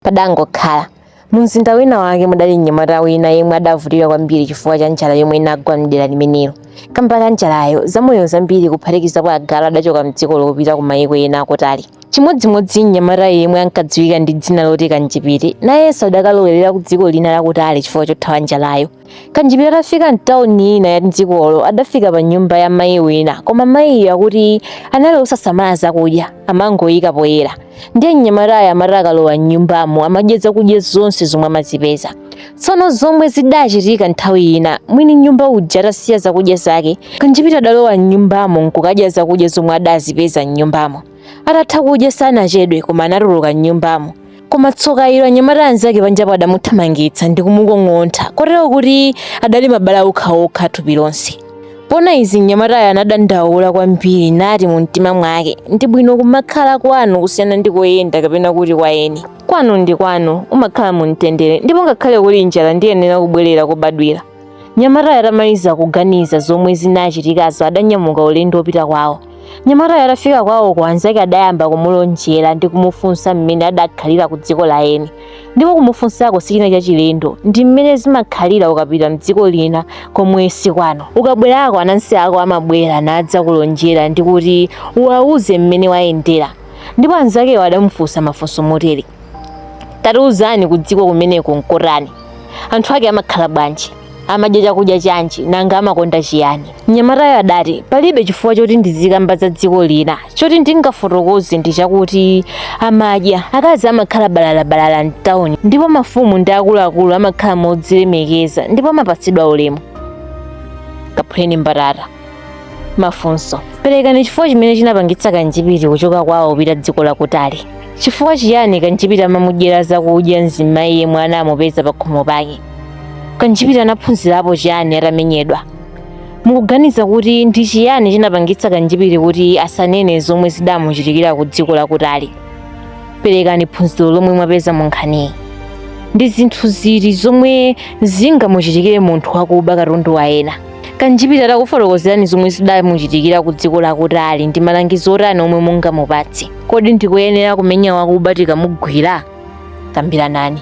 Padangokhala. Mumzinda wina wake mudali mnyamata wina yemwe adavutika kwambiri chifukwa cha njala yomwe inagwa m'dera limenelo. Kamba ka njalayo, zamoyo zambiri kuphatikizapo agalu adachoka m'dzikolo kupita ku mayiko ena akutali. Chimodzimodzi mnyamatayo yemwe ankadziwika ndi dzina loti Kanjipiti, nayenso adakalowerera ku dziko lina lakutali chifukwa chothawa njalayo. Kanjipiti atafika m'tauni ina ya m'dzikolo adafika pa nyumba ya mayi wina koma mayiyo akuti anali osasamala zakudya amangoyika poyera ndiye mnyamatayo amati akalowa m'nyumbamo amadya zakudya zonse zomwe amazipeza tsono zomwe zidachitika nthawi ina mwini nyumba uja atasiya zakudya zake kanjipiti adalowa m'nyumbamo nkukadya zakudya zomwe adazipeza m'nyumbamo Atatha kudya sanachedwe koma anatuluka m'nyumbamo. Koma tsoka ilo anyamata anzake panjapo adamuthamangitsa ndi kumukong'ontha kotero kuti adali mabala okhaokha thupi lonse. Poona izi mnyamatayo anadandaula kwambiri nati mu mtima mwake, ndi bwino kumakhala kwanu kusiyana ndi koyenda kapena kuti kwa eni. Kwanu ndi kwanu, umakhala mu mtendere ndipo ngakhale kuli njala ndiyenera kubwerera kobadwira. Mnyamatayo atamaliza kuganiza zomwe zinachitikazo adanyamuka ulendo wopita kwawo. Mnyamatayo atafika kwawoko anzake adayamba kumulonjera ndi kumufunsa mmene adakhalira ku dziko la eni. Ndipo kumufunsako sichina chachilendo ndi mmene zimakhalira ukapita mdziko lina komwe si kwanu. Ukabwerako anansi ako amabwera nadzakulonjera ndi kuti uwauze mmene wayendera. Ndipo anzakewo adamufunsa mafunso motere. Tatiuzani ku dziko kumeneko nkotani? anthu ake amakhala bwanji amadya chakudya chanji nanga amakonda chiyani mnyamatayo adati palibe chifukwa choti ndizikamba za dziko lina choti ndingafotokoze ndi chakuti amadya akazi amakhala balalabalala mtawuni ndipo mafumu ndi akuluakulu amakhala modzilemekeza ndipo amapatsidwa ulemu kaphuleni mbatata Mafunso. Perekani chifukwa chimene chinapangitsa Kanjipiti kuchoka kwawo kupita dziko lakutali. Chifukwa chiyani Kanjipiti amamudyera zakudya mzimayi yemwe anamupeza pakhomo pake? Kanjipiti anaphunzirapo chiyani atamenyedwa? Mukuganiza kuti ndi chiyani chinapangitsa Kanjipiti kuti asanene zomwe zidamuchitikira ku dziko lakutali? Perekani phunziro lomwe mwapeza mu nkhaniyi. Ndi zinthu ziti zomwe zingamuchitikire munthu wakuba katundu wa ena? kanjipiti atakufotokozerani zomwe zidamuchitikira ku dziko lakutali ndi malangizo otani omwe mungamupatse kodi ndi koyenera kumenya wakuba tikamugwira kambiranani